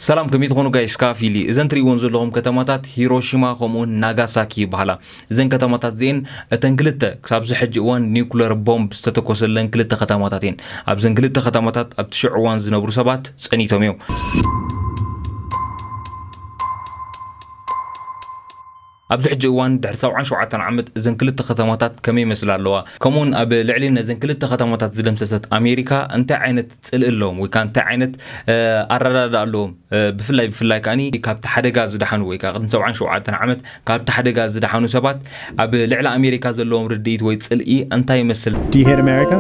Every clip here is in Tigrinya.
ሰላም ከመይ ትኾኑ ጋይስ ካፍ ፊሊ እዘን ትሪእዎን ዘለኹም ከተማታት ሂሮሺማ ከምኡውን ናጋሳኪ ይበሃላ እዘን ከተማታት እዚኤን እተን ክልተ ክሳብዚ ሕጂ እዋን ኒውክለር ቦምብ ዝተተኮሰለን ክልተ ከተማታት እየን ኣብዘን ክልተ ከተማታት ኣብቲ ሽዑ እዋን ዝነብሩ ሰባት ጸኒቶም እዮም ኣብዚ ሕጂ እዋን ድሕሪ ሰብዓን ሸውዓተን ዓመት እዘን ክልተ ከተማታት ከመይ ይመስላ ኣለዋ? ከምኡውን ኣብ ልዕሊ ነዘን ክልተ ከተማታት ዝደምሰሰት ኣሜሪካ እንታይ ዓይነት ጽልኢ ኣለዎም ወይ ከኣ እንታይ ዓይነት ኣረዳድኣ ኣለዎም? ብፍላይ ብፍላይ ከኣ ካብቲ ሓደጋ ዝደሓኑ ወይ ከኣ ቅድሚ ሰብዓን ሸውዓተን ዓመት ካብቲ ሓደጋ ዝደሓኑ ሰባት ኣብ ልዕሊ ኣሜሪካ ዘለዎም ርድኢት ወይ ጽልኢ እንታይ ይመስል? Do you hate America?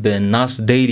ብናስ ደይሊ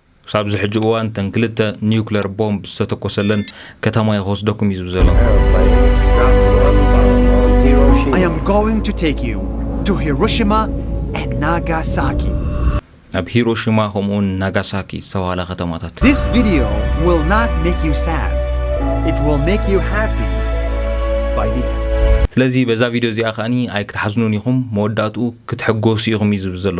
ክሳብዚ ሕጂ እዋን እተን ክልተ ኒዩክለር ቦምብ ዝተተኮሰለን ከተማ እየ ክወስደኩም እዩ ዝብል ዘሎ። ናብ ሂሮሺማ ከምኡውን ናጋሳኪ ዝተባህላ ከተማታት። ስለዚ በዛ ቪድዮ እዚኣ ከኣ ኣይክትሓዝኑን ኢኹም መወዳእትኡ ክትሕጎሱ ኢኹም እዩ ዝብል ዘሎ።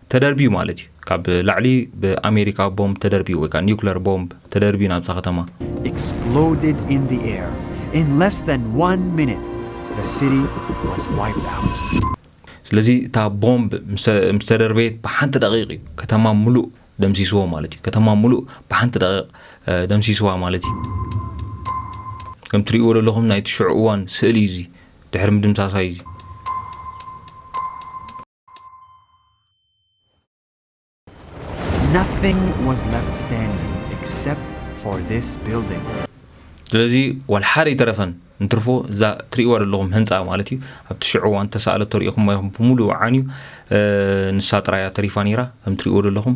ተደርብዩ ማለት እዩ ካብ ላዕሊ ብኣሜሪካ ቦምብ ተደርብዩ ወይ ካኣ ኒኩለር ቦምብ ተደርብዩ ናብዛ ከተማ። exploded in the air in less than one minute the city was wiped out። ስለዚ እታ ቦምብ ምስ ተደርበየት ብሓንቲ ደቂቅ እዩ ከተማ ሙሉእ ደምሲስዎ ማለት እዩ ከተማ ሙሉእ ብሓንቲ ደቂቅ ደምሲስዋ ማለት እዩ ከም ትሪእዎ ደለኹም ናይቲ ሽዑ እዋን ስእሊ እዩ እዚ ድሕሪ ምድምሳሳ እዩ እዚ። Nothing was left standing except for this building. ስለዚ ዋላ ሓደ ይተረፈን እንትርፎ እዛ ትርእይዋ ዘለኹም ህንፃ ማለት እዩ ኣብቲ ሽዑ እዋን ተሰኣለቶ ሪኢኹም ይኹም ብምሉኡ ዓንዩ ንሳ ጥራያ ተሪፋ ነይራ ከም ትርእይዎ ዘለኹም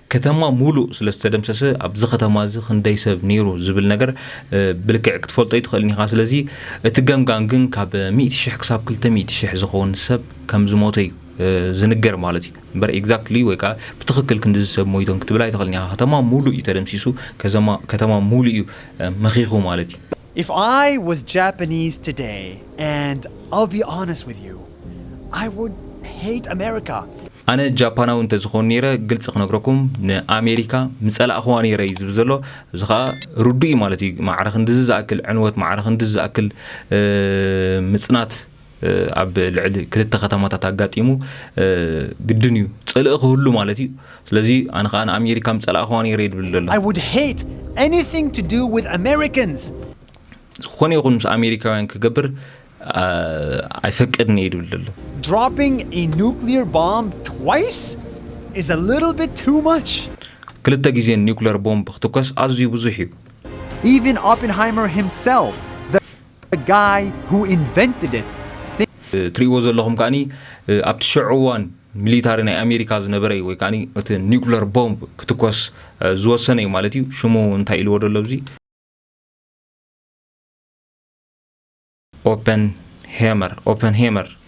ከተማ ሙሉእ ስለ ዝተደምሰሰ ኣብዚ ከተማ እዚ ክንደይ ሰብ ነይሩ ዝብል ነገር ብልክዕ ክትፈልጦ ኣይትኽእልን ኢኻ። ስለዚ እቲ ገምጋም ግን ካብ ሚእቲ ሽሕ ክሳብ ክልተ ሚእቲ ሽሕ ዝኸውን ሰብ ከም ዝሞተ እዩ ዝንገር ማለት እዩ። እምበር ኤግዛክትሊ ወይ ከዓ ብትኽክል ክንድዚ ሰብ ሞይቶም ክትብል ኣይትኽእልን ኢኻ። ከተማ ሙሉእ እዩ ተደምሲሱ፣ ከተማ ሙሉእ እዩ መኺኹ ማለት እዩ። If I was Japanese today and I'll be honest with you I would hate America. ኣነ ጃፓናዊ እንተዝኾን ኔረ ግልጺ ክነግረኩም ንኣሜሪካ ምጸላእኽዋ ኔረ እዩ ዝብል ዘሎ እዚ ከኣ ርዱእ እዩ ማለት እዩ ማዕረ ክንድዚ ዝኣክል ዕንወት ማዕረ ክንድዚ ዝኣክል ምጽናት ኣብ ልዕሊ ክልተ ከተማታት ኣጋጢሙ ግድን እዩ ጽልኢ ክህሉ ማለት እዩ ስለዚ ኣነ ከዓ ንኣሜሪካ ምጸላእክዋ ነይረ እዩ ድብል ዘሎ ዝኾነ ይኹን ምስ ኣሜሪካውያን ክገብር ኣይፈቅድን እየ ድብል ዘሎ ክልተ ግዜ ኒኩለር ቦምብ ክትኮስ ኣዝዩ ብዙሕ እዩ The guy who invented it thinks. እትሪእዎ ዘለኹም ከኣ ኣብቲ ሸዑ እዋን ሚሊታሪ ናይ ኣሜሪካ ዝነበረ እዩ ወይ ከኣ እቲ ኒኩለር ቦምብ ክትኮስ ዝወሰነ እዩ ማለት እዩ ሽሙ እንታይ ኢልዎ ደሎ ኣብዚ ኦፐን ሄመር ኦፐን ሄመር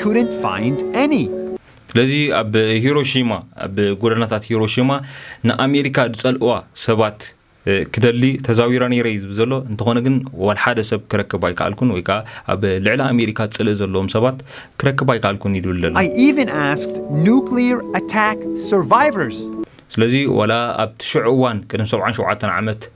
couldn't find any. ስለዚ ኣብ ሂሮሺማ ኣብ ጎደናታት ሂሮሺማ ንኣሜሪካ ዝጸልእዋ ሰባት ክደሊ ተዛዊረ ነይረ እዩ ዝብል ዘሎ እንተኾነ ግን ዋል ሓደ ሰብ ክረክብ ኣይከኣልኩን ወይ ከዓ ኣብ ልዕሊ ኣሜሪካ ጽልኢ ዘለዎም ሰባት ክረክብ ኣይከኣልኩን እዩ ዝብል ዘሎ I even asked nuclear attack survivors. ስለዚ ዋላ ኣብቲ ሽዑ እዋን ቅድሚ ሰብዓን ሸውዓተን ዓመት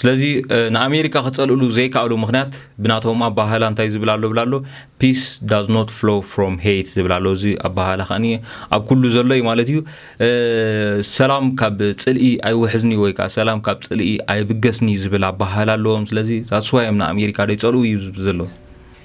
ስለዚ ንኣሜሪካ ክጸልእሉ ዘይካኣሉ ምክንያት ብናቶም ኣባሃህላ እንታይ ዝብል ኣሎ ብል ኣሎ ፒስ ዳዝ ኖት ፍሎ ፍሮም ሄት ዝብል ኣሎ እዚ ኣባሃህላ ከኣ ኣብ ኩሉ ዘሎ እዩ ማለት እዩ ሰላም ካብ ጽልኢ ኣይውሕዝኒ ወይ ከዓ ሰላም ካብ ጽልኢ ኣይብገስኒ ዝብል ኣባሃህላ ኣለዎም ስለዚ ዛስዋዮም ንኣሜሪካ ደይጸልኡ እዩ ዝብ ዘሎ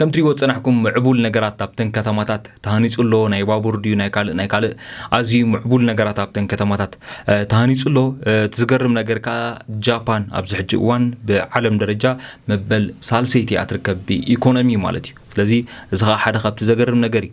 ከምትሪእዎ ዝጸናሕኩም ምዕቡል ነገራት ኣብተን ከተማታት ተሃኒጹ ኣሎ፣ ናይ ባቡር ድዩ ናይ ካልእ ናይ ካልእ ኣዝዩ ምዕቡል ነገራት ኣብተን ከተማታት ተሃኒጹ ኣሎ። እቲ ዝገርም ነገር ከኣ ጃፓን ኣብዚ ሕጂ እዋን ብዓለም ደረጃ መበል ሳልሰይቲ እያ ትርከብ ብኢኮኖሚ ማለት እዩ። ስለዚ እዚ ከኣ ሓደ ካብቲ ዘገርም ነገር እዩ።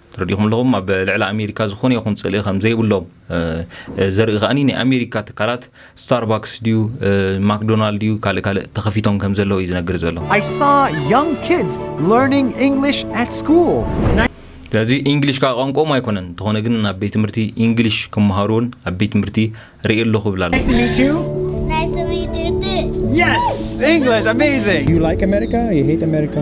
ተረዲእኩም ኣለኹም ኣብ ልዕሊ ኣሜሪካ ዝኾነ ይኹን ፅልኢ ከም ዘይብሎም ዘርኢ ከኣ ናይ ኣሜሪካ ትካላት ስታርባክስ ድዩ ማክዶናልድ ድዩ ካልእ ካልእ ተኸፊቶም ከም ዘለዉ እዩ ዝነግር ዘሎ I saw young kids learning English at school. ስለዚ ኢንግሊሽ ከዓ ቋንቋኦም ኣይኮነን እንተኾነ ግን ኣብ ቤት ትምህርቲ ኢንግሊሽ ክመሃሩ እውን ኣብ ቤት ትምህርቲ ርኢ ኣለኹ ይብል ኣሎ Yes! English, amazing! Do you like America? You hate America?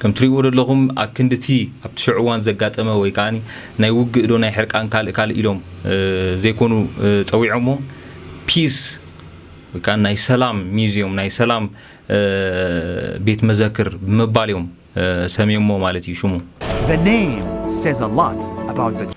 ከም ትሪእዎ ደለኹም ኣብ ክንዲ እቲ ኣብቲ ሸዑ እዋን ዘጋጠመ ወይ ከኣ ናይ ውግእ ዶ ናይ ሕርቃን ካልእ ካልእ ኢሎም ዘይኮኑ ጸዊዖሞ ፒስ ወይ ከኣ ናይ ሰላም ሚዝዮም ናይ ሰላም ቤት መዘክር ብምባል እዮም ሰምዮሞ ማለት እዩ ሽሙ። The name says a lot about the.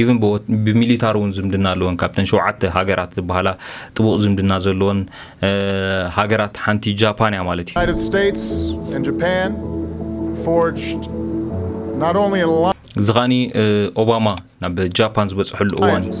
ኢቭን ብሚሊታሪ እውን ዝምድና ኣለወን ካብተን ሸውዓተ ሃገራት ዝበሃላ ጥቡቕ ዝምድና ዘለወን ሃገራት ሓንቲ ጃፓን እያ ማለት እዩ። እዚ ከኣ ኦባማ ናብ ጃፓን ዝበፅሐሉ እዋን እዩ።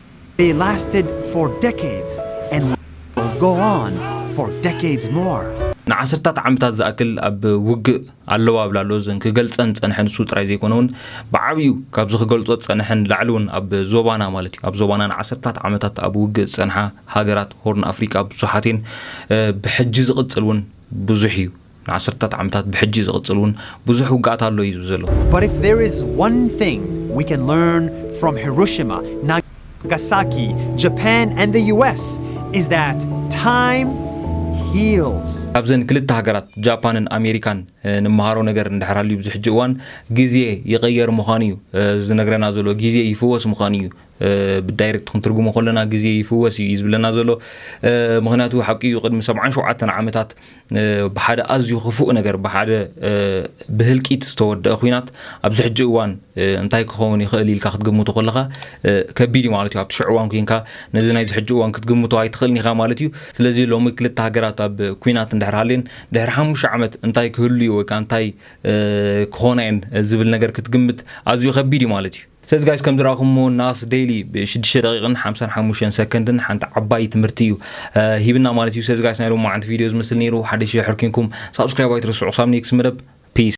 They lasted for decades and will go on for decades more. ንዓሰርታት ዓመታት ዝኣክል ኣብ ውግእ ኣለዋ እብል ኣሎ። እዘን ክገልጸን ዝጸንሐ ንሱ ጥራይ ዘይኮነ እውን ብዓብዩ ካብዚ ክገልጾ ዝጸንሐ ንላዕሊ እውን ኣብ ዞባና ማለት እዩ ኣብ ዞባና ንዓሰርታት ዓመታት ኣብ ውግእ ዝጸንሓ ሃገራት ሆርን ኣፍሪቃ ብዙሓት እየን። ብሕጂ ዝቕጽል እውን ብዙሕ እዩ። ንዓሰርተታት ዓመታት ብሕጂ ዝቕጽል ውን ብዙሕ ውግኣት ኣሎ እዩ ዝብል ዘሎ። But if there is one thing we can learn from Hiroshima, Nagasaki, Japan and the US is that time heals. ካብዘን ክልተ ሃገራት ጃፓንን ኣሜሪካን ንመሃሮ ነገር እንድሕር ሃልዩ ኣብዚ ሕጂ እዋን ግዜ ይቕየር ምዃኑ እዩ ዝነግረና ዘሎ። ግዜ ይፍወስ ምዃኑ እዩ ብዳይረክት ክንትርጉሞ ከለና ግዜ ይፍወስ እዩ እዩ ዝብለና ዘሎ። ምኽንያቱ ሓቂ እዩ ቅድሚ ሰብዓን ሸውዓተን ዓመታት ብሓደ ኣዝዩ ክፉእ ነገር ብሓደ ብህልቂት ዝተወደአ ኩናት ኣብዚ ሕጂ እዋን እንታይ ክኸውን ይኽእል ኢልካ ክትግምቱ ከለኻ ከቢድ እዩ ማለት እዩ ኣብቲ ሽዑ እዋን ኮንካ ነዚ ናይዚ ሕጂ እዋን ክትግምቶ ኣይትኽእልን ኢኻ ማለት እዩ ስለዚ ሎሚ ክልተ ሃገራት ኣብ ኩናት እንድሕር ሃልየን ድሕሪ ሓሙሽተ ዓመት እንታይ ክህሉ እዩ ወይ ከዓ እንታይ ክኾና እየን ዝብል ነገር ክትግምት ኣዝዩ ከቢድ እዩ ማለት እዩ ስለዚ ጋይስ ከም ዝረኣኹሞ ናስ ደይሊ ብ ሽዱሽተ ደቂቅን ሓምሳን ሓሙሽተን ሰከንድን ሓንቲ ዓባይ ትምህርቲ እዩ ሂብና ማለት እዩ። ስለዚ ጋይስ ናይ ሎማዓንቲ ቪድዮ ዝመስል ነይሩ ሓደሽ ሸር ሕርኪንኩም ሳብስክራይብ ኣይትረስዑ ክሳብ ኔክስት መደብ ፒስ።